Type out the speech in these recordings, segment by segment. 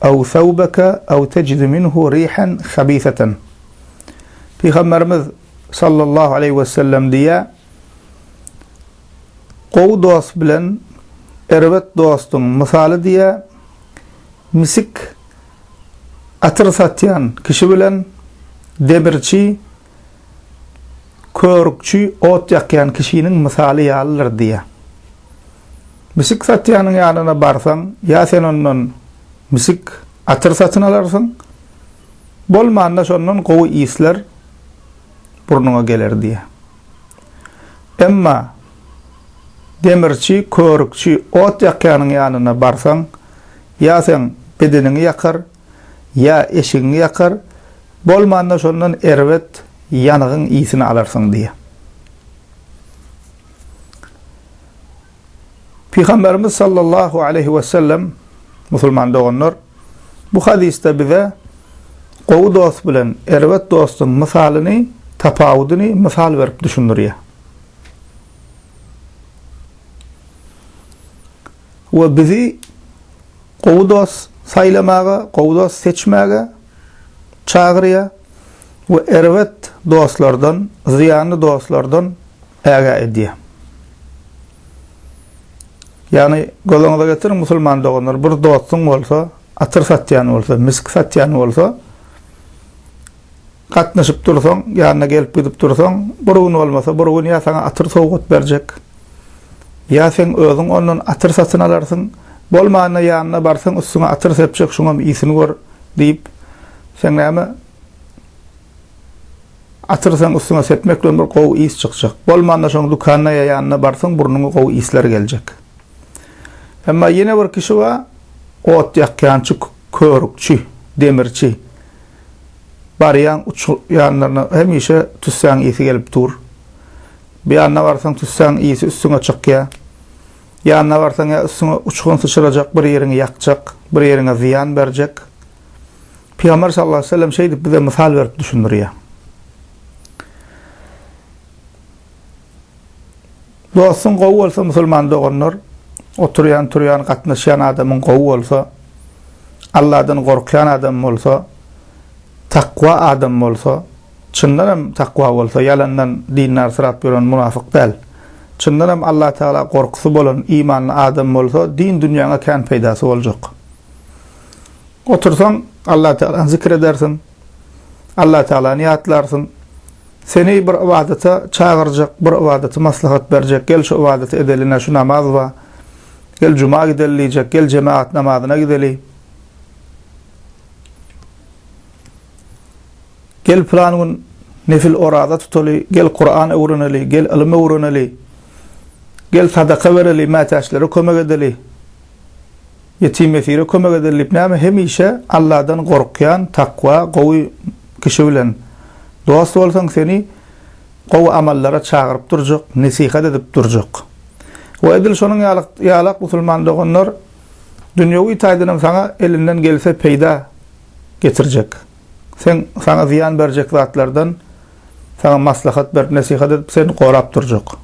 Aw thawbaka aw tejidu minhu rihan habisatan. Pygamberimiz sallallahu aleýhi wesellem diýýär, Gowy dost bilen erbet dostuň mysaly diýýär, misik atyr satýan kişi bilen demirçi Körükçi ot ýakýan kişiniň mysaly ýalydyr diýýär. Misik satýanyň ýanyna barsaň, ýa sen ondan misik atyr satyn alarsyň, bolmanda şondan gowy isler burnuňa geler diýýär. Emma demirçi, körükçi ot ýakýanyň ýanyna barsaň, ýa seň bedeniňi ýakar, ýa eşigiňi ýakar, bolmanda şondan erbet ýanygyň ysini alarsyň diýýär. Pygamberimiz sallallahu aleýhi wesellem, musulman doganlar, bu hadysda bize gowy dost bilen erbet dostuň mysalyny, tapawudyny mysal berip düşündirýär. we bizi gowy dost saýlamaga, gowy dost seçmäge çagyrýar we erbet dostlardan, zyýanly dostlardan ägä edýär. Ýagny, gözaňyza getiriň, musulman doganlar, bir dostuň bolsa, atyr satýan bolsa, misk satýan bolsa, gatnaşyp dursaň, ýanyna gelip-gidip dursaň, bir gün bolmasa bir gün ýa saňa atyr sowgat berjek, ýa seň özüň ondan atyr satyn alarsyň, bolmanda ýanyna barsaň üstüňe atyr sepjek şuňam isini gör diýip, seň näme, atyr seň üstüňe sepmek bilen bir gowy is çykjak, bolmanda şoň dükana ýa ýanyna barsaň burnuňa gowy isler geljek. Emma ýene bir kişi bar, ot ýakýançy, körükçi, demirçi. Barýaň uç ýanlaryna hemişe tüssäň ysy gelip dur. Bir ýanyna barsaň tüssäň ysy üstüňe çykýa. Ýanyna barsaň ýa üstüňe uçgun syçyrajak bir ýeriňi ýakjak, bir ýeriňe zyýan berjek. Pygamber sallallahu aleyhi ve sellem şeýdip bize mysal berip düşündirýä. Dostuň gowy bolsa musulman doganlar oturýan turýan gatnaşýan adamyň gowy bolsa Alladan gorkýan adam bolsa takwa adam bolsa çyndan hem takwa bolsa ýalandan dindar syrap ýören munafyk däl çyndan hem Allah Tagala gorkusy bolan imanly adam bolsa din dünýäňe kän peýdasy boljak otursaň Allah Tagalany zikir edersiň Allah Tagalany ýatlarsyň Seni bir ybadata çagyrjak, bir ybadaty maslahat berjek, gel şu ybadaty edeli ne şu namaz ba, gel juma gideli diýjek, gel jemagat namazyna gideli, gel pylan gün nefil oraza tutaly, gel Kuran öwreneli, gel ylym öwreneli, gel sadaka bereli, mätäçlere kömek edeli. Ýetim ýesire kömek eder diýip näme hemişe Alladan gorkýan takwa gowy kişi bilen dost bolsaň seni gowy amallara çagyryp durjak nesihat edip durjak we edil şonuň ýalak musulman doganlar dünýewi taýdanam saňa elinden gelse peýda getirjek sen saňa zyýan berjek zatlardan saňa maslahat berip nesihat edip seni gorap durjak.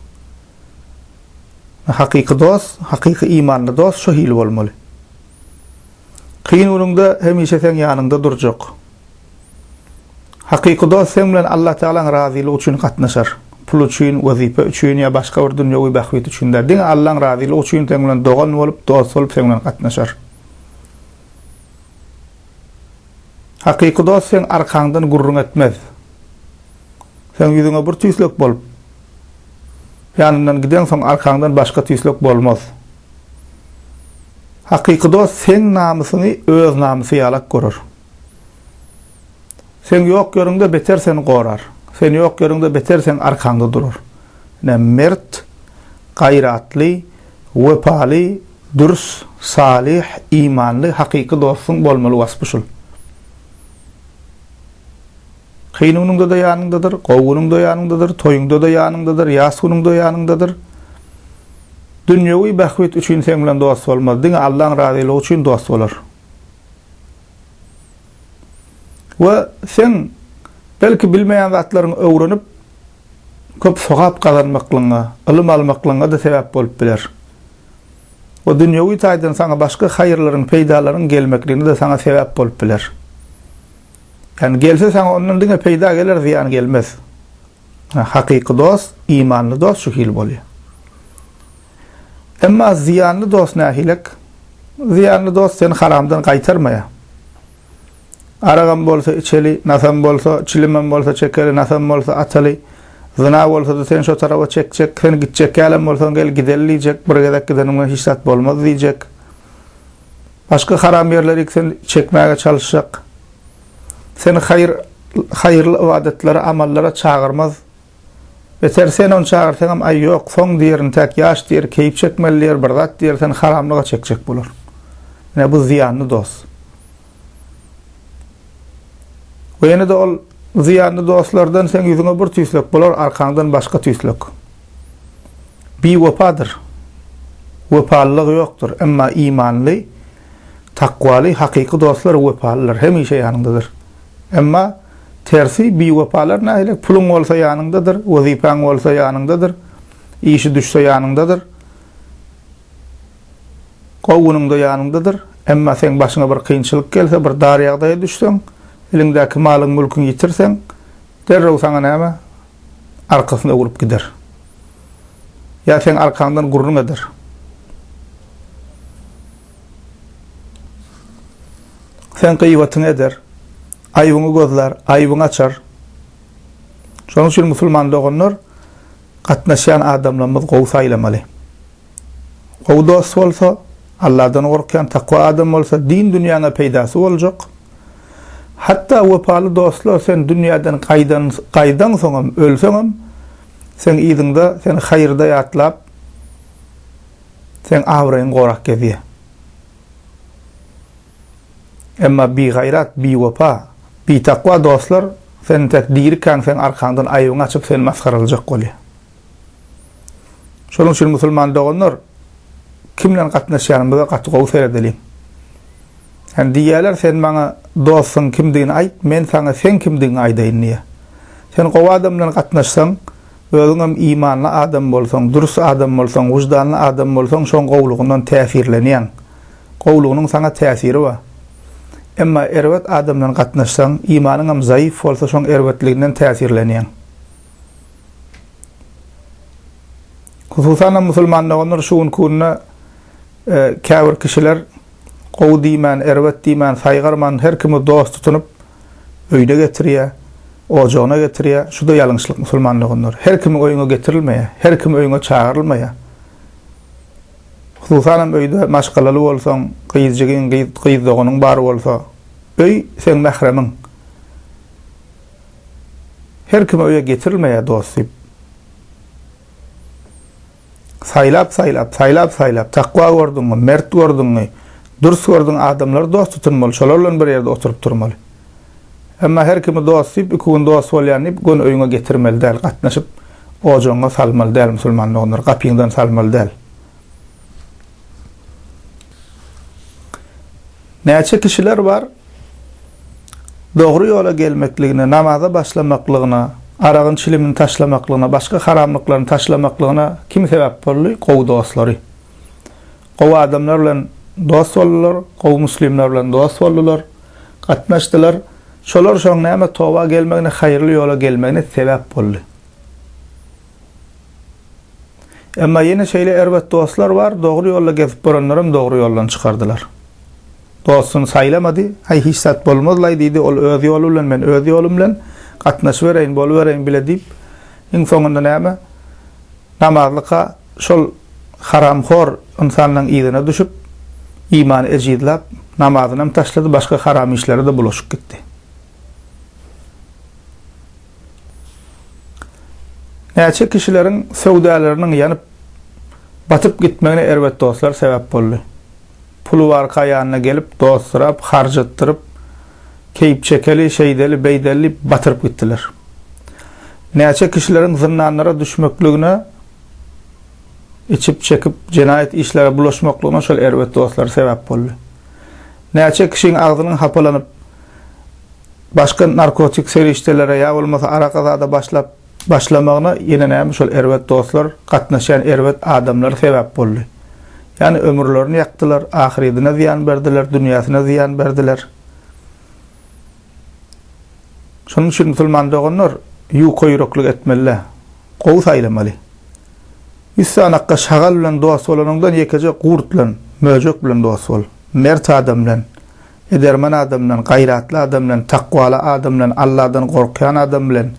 Hakyky dost, hakyky imanly dost şu hili bolmaly. Kyn günüňde hemişe seň ýanyňda durjak. Hakyky dost seň bilen Allatagalaň razylygy üçin gatnaşar. Pul üçin, wezipe üçin ýa başga bir dünýewi bähbit üçin däl. Diňe Allaň razylygy üçin seň bilen dogan bolup, dost bolup seň bilen gatnaşar. Hakyky dost seň arkaňdan gürrüň etmez. Seň ýüzüňe bir tüýslek bolup, ýanyndan gideňsoň arkaňdan başga tüýslek bolmaz. Hakyky dost seň namysyňy öz namysy ýalak görer. Seň ýok ýeriňde beter seni gorar. Sen ýok ýeriňde beter seň arkaňda durar. Ine mert, gaýratly, wepaly, Dürs, salyh, imanly, hakyky dostuň bolmaly waspy şul. Kyn günüňde-de ýanyňdadyr, gowy günüňde ýanyňdadyr, toýuňda-da ýanyňdadyr, ýas günüňde ýanyňdadyr. Dünýewi bähbit üçin seň bilen dost bolmaz, diňe Allaň razylygy üçin dost bolar. We seň belki bilmeýän zatlaryňy öwrenip, köp sogap gazanmaklygyňa, ylym almaklygyňa-da sebäp bolup biler. we dünýewi taýdan saňa başga haýyrlaryň, peýdalaryň gelmekligine-de saňa sebäp bolup biler. Ýagny gelse saňa ondan diňe peýda geler, zyýan gelmez. Ynha, hakyky dost, imanly dost şu hili bolýar. Emma zyýanly dost nähilek? Zyýanly dost seni haramdan gaýtarmaýar. Aragam bolsa içeli, nasam bolsa, çilimem bolsa çekeli, nasam bolsa ataly. Zyna bolsa-da seni şo tarapa çekjek, sen gitjek ýalem bolsaň gel gideli diýjek, bir gezek gideniň bilen hiç zat bolmaz diýjek. Başga haram ýerlerik seni çekmäge çalyşjak. Seni haýyr, haýyrly ybadatlara, amallara çagyrmaz. Beter sen ony çagyrsaňam aý ýok, soň diýer intäk ýaş diýer, keýp çekmeli diýer, bir zat diýer, seni haramlyga çekjek bolar. Ine bu zyýanly dost. We ýene-de ol zyýanly dostlardan seň ýüzüňe bir tüýslek bolar, arkaňdan başga tüýslek. Biwepadyr. Wepalylygy ýokdur. Emma imanly, takwaly, hakyky dostlar wepalydyr, hemişe ýanyňdadyr. Emma. Tersi, biwepalar nähili? Puluň bolsa ýanyňdadyr, wezipäň bolsa ýanyňdadyr, işi düşse ýanyňdadyr, gowy günüňde ýanyňdadyr, emma seň başyňa bir kynçylyk gelse, bir dar ýagdaýa düşseň, eliňdäki malyň-mülküňi ýitirseň, derrew saňa näme? Arkasyny öwrüp gider. Ýa seň arkaňdan gürrüň eder. Seň gyýbatyňy eder. Aýbyňy gözlär, aýbyňy açar. Şonuň üçin musulman doganlar gatnaşýan adamlarymyzy gowy saýlamaly. Gowy dost bolsa, Alladan gorkýan takwa adam bolsa din dünýäňe peýdasy boljak. Hatda wepaly dostlar sen dünýäden gaýdan gaýdaňsoňam, ölseňem seň yzyňda seni haýyrda ýatlap seň abraýyňy gorap gezýär. Emma bigaýrat, biwepa, bitakwa dostlar sen entek dirikäň seň arkaňdan aýbyňy açyp seni masgaralaýjak bolýar. Şonuň üçin musulman doganlar kim bilen gatnaşýanymyza gaty gowy seredeliň. Hany diýýärler sen maňa dostuň kimdigini aýt men saňa seň kimdigiňi aýdaýyn diýýär. Sen gowy adam bilen gatnaşsaň özüňem imanly adam bolsaň, dürs adam bolsaň, wyždanly adam bolsaň şoň gowlugyndan täsirlenýäň. Gowlugynyň saňa täsiri bar. Emma erbet adam bilen gatnaşsaň, imanyňam zaýyf bolsa şoň erbetliginden täsirlenýäň. Hususanam musulman doganlar şu gün künde käbir kişiler gowy diýmän, erbet diýmän, saýgarman her kimi dost tutunyp öýüne getirýär, ojagyna getirýär. Şuda ýalňyşlyk musulman doganlar. Her kimi öýüňe getirilmeýär. Her kim öýüňe çagyrylmaýar. Hususanam öýde maşgalaly bolsaň, gyz jigin, gyz doganyň bar bolsa, öý seň mähremiň. Her kimi öýe getirilmeýär dost diýip. Saýlap-saýlap, saýlap-saýlap, takwa gördüňmi, mert gördüňmi, dürs gördüň adamlary dost tutun bol, şolar bilen bir ýerde oturyp durmaly. Emma her kimi dost diýip, iki gün dost bolýan diýip, göni öýüňe getirmeli däl, gatnaşyp, ojagyňa salmaly däl, musulman doganlar, gapyňdan salmaly däl. Näçe kişiler bar, dogry ýola gelmekligine, namaza başlamaklygyna, aragyň çilimini taşlamaklygyna, başga haramlyklaryny taşlamaklygyna kim sebäp boldy? Gowy dostlary. Gowy adamlar bilen dost boldular, gowy muslimler bilen dost boldular. Gatnaşdylar. Şolar şoň näme toba gelmegine, haýyrly ýola gelmegine sebäp boldy. Emma ýene şeýle erbet dostlar bar, dogry ýolda gezip boranlaram dogry ýoldan çykardylar. Dostuny saýlamady, Aý hiç zat bolmazlaý diýdi, ol öz ýoly bilen, men öz ýolum bilen gatnaşybereýin, bolubereýin bile diýip, iň soňunda näme? Namazlyka şol haramhor ynsanlaň yzyna düşüp, imany ejizläp, namazynam taşlady, başga haram işlere-de bulaşyp gitdi. Näçe kişileriň söwdalarnyň ýanyp, batyp gitmegine erbet dostlar sebäp boldy. Puly barka ýanyna gelip, dost sorap, harjatdyryp, keýp çekeli, şeýdeli, beýdeli diýip batyryp gitdiler. Näçe kişileriň zyndanlara düşmekligine, içip-çekip jenaýat işlere bulaşmaklygyna şol erbet dostlary sebäp boldy. Näçe kişiň agzynyň hapalanyp, başga narkotik serişdelere ýa bolmasa araka zada başlap, Başlamagyna ýene näme şol erbet dostlar, gatnaşýan erbet adamlar sebäp boldy. Ýani ömürlerini ýakdylar, ahyrydyna zyýan berdiler, dünýäsine zyýan berdiler. Şonuň üçin musulman doganlar ýuka ýüreklik etmeli-de, gowy saýlamaly. Ýüz sanakga şagal bilen dost bolanyňdan ýekeje gurt bilen, möjek bilen dost bol, mert adam bilen. Edermen adamdan, gaýratly adamdan, takwaly adamdan, Alladan gorkýan adam bilen,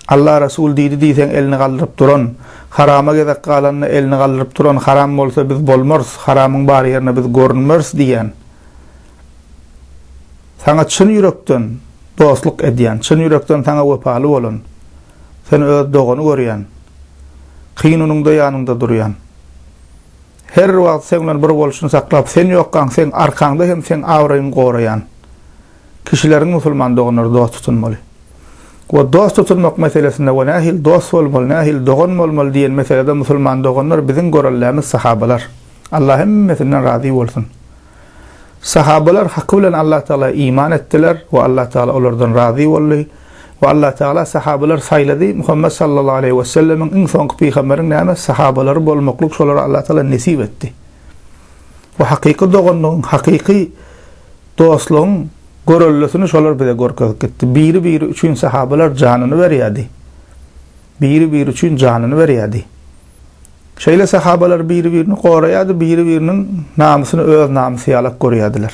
Alla, Resul diýdi diýseň elini galdyryp duran, harama gezek galanda elini galdyryp duran, haram bolsa biz bolmarys, haramyň bar ýerine biz görünmeris diýýän, saňa çyn ýürekden dostluk edýän, çyn ýürekden saňa wepaly bolan, seni öz dogany görýän, kyn unuňda ýanyňda durýan. Her wagt seň bilen bir bolşuny saklap, sen ýokkaň seň arkaňda hem seň abraýyňy goraýan kişileriň musulman doganlary dost tutunmaly. We dost tutunmak meselesinde we nähili dost bolmaly, nähili dogan bolmaly diýen meselede musulman doganlar biziň göreldämiz sahabalar. Allah hemmesinden razy bolsun. Sahabalar haky bilen Allah Tagala iman etdiler we Allah Tagala olardan razy boldy. We Allah Tagala sahabalar saýlady. Muhammet sallallahu aleýhi we sellemiň iň soňky pygamberiň näme sahabalary bolmaklyk şolara Allah Tagala nesip etdi. We hakyky doganlygyň, hakyky dostlugyň göreldesini şolar bize görkezip gitdi. Biri-biri üçin sahabalar janyny berýärdi. Biri-biri üçin janyny berýärdi. Şeýle sahabalar biri-birini goraýardy, biri-biriniň namysyny öz namysy ýalak görýärdiler.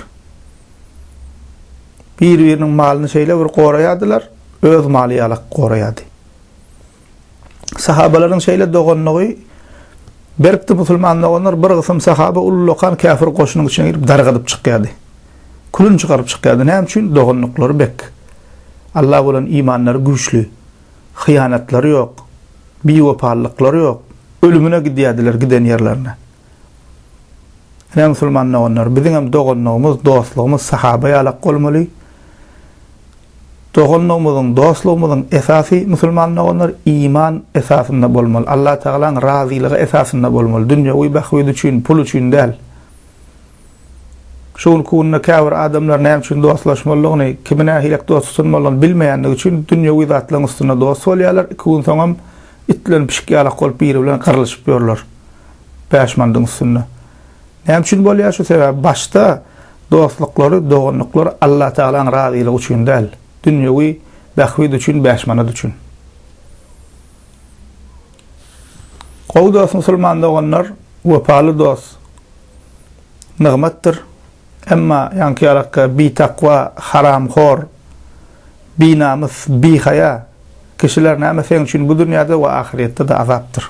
Biri-biriniň malyny şeýle bir goraýardylar, öz maly ýalak goraýardy. Sahabalaryň şeýle doganlygy Berkdi musulman doganlar bir gysym sahaba ullakan käfir goşunyň içine girip dargadyp çykýardy. Külün çykaryp çykýardy. Näme üçin? Doganlyklary bek. Allah bolan imanlary güýçli. hyýanatlary ýok, biwepalylyklary ýok. Ölümine gidýärdiler giden ýerlerine. Ine, musulman doganlar, biziňem doganlygymyz, dostlugymyz sahaba ýalak bolmaly. Doganlygymyzyň, dostlugymyzyň esasy, musulman doganlar, iman esasynda bolmaly, Allatagalaň razylygy esasynda bolmaly, dünýewi bähbit üçin, pul üçin däl. Şu günki günde käbir adamlar näme üçin dostlaşmalydygyny, kimi nähilek dost tutunmalydygyny bilmeýändigi üçin dünýewi zatlaryň üstünde dost bolýarlar, iki gün soňam itlenip pişik ýalak bolup biri bilen gyrlyşyp ýörler bäş mandyň üstünde. Näme üçin bolýar şu sebäbi başda dostluklary, doganlyklary Allatagalaň razylygy üçin däl, dünýewi bähbit üçin bäş manat üçin. Gowy dost musulman doganlar, wepaly dost. nygmatdyr. Emma ýaňky ýalakka bitakwa, haramhor, binamys, bihaýa kişiler näme seň üçin bu dünýäde we ahyrýetde-de azapdyr.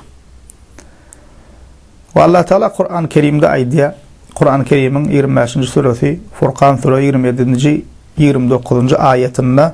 We Allah Taala Kurany Kerimde aýdýar, Kurany Kerimiň ýigrimi bäşinji süresi, Furkan süre ýigrimi ýedinji, ýigrimi dokuzynjy aýatynda,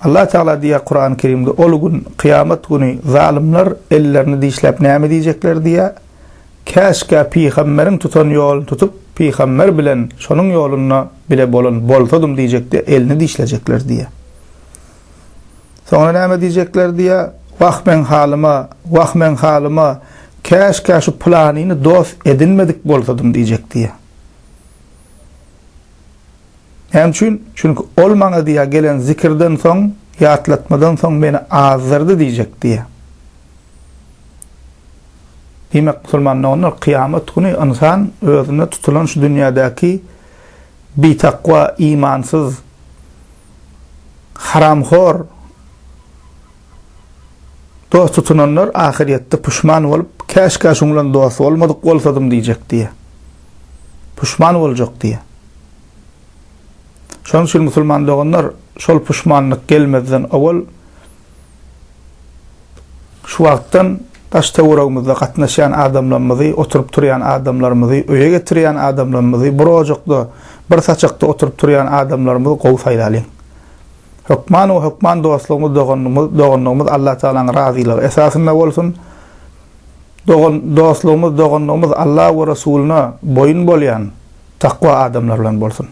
Allah Tagala diýýär Kurany Kerimde ol gün, kyýamat güni, zalymlar ellerini dişläp näme diýjekler diýýär, Käşgä pygamberiň tutan ýoluny tutup, pygamber bilen şonuň ýolunda bile bolan bolsadym diýjekde elini dişlejekler diýýär. Soňra näme diýjekler diýýär, Wah meň halyma, wah meň halyma, käşgä şu pylanyny dost edinmedik bolsadym diýjek diýýär. Näme üçin? Çünki Ol maňa diýýär, Gelen zikirden soň, ýatlatmadan soň Meni azdyrdy diýjek diýýär. Diýmek, musulman doganlar, kyýamat güni ynsan özüne tutulan şu dünýädäki bitakwa, imansyz, haramhor, Dost tutunanlar ahyrýetde puşman bolup, Käşgä şuň bilen dost bolmadyk bolsadym diýjek diýýär. Puşman boljak diýýär. Şonuň üçin musulman doganlar, şol puşmanlyk gelmezden owal şu wagtdan daş-töweregimizde gatnaşýan adamlarymyzy, oturyp-turýan adamlarymyzy, öýe getirýän adamlarymyzy, bir ojakda, bir saçakda oturyp-turýan adamlarymyzy gowy saýlalyň. Hökman we hökman dostlugymyz, doganlygymyz, dogandygymyz Allatagalaň razylygy esasynda bolsun. Dogan, dostlugymyz, dogandygymyz Alla we Resulyna boýun bolýan takwa adamlar bilen bolsun.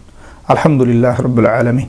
Alhamdulillah Rabbil Alamin.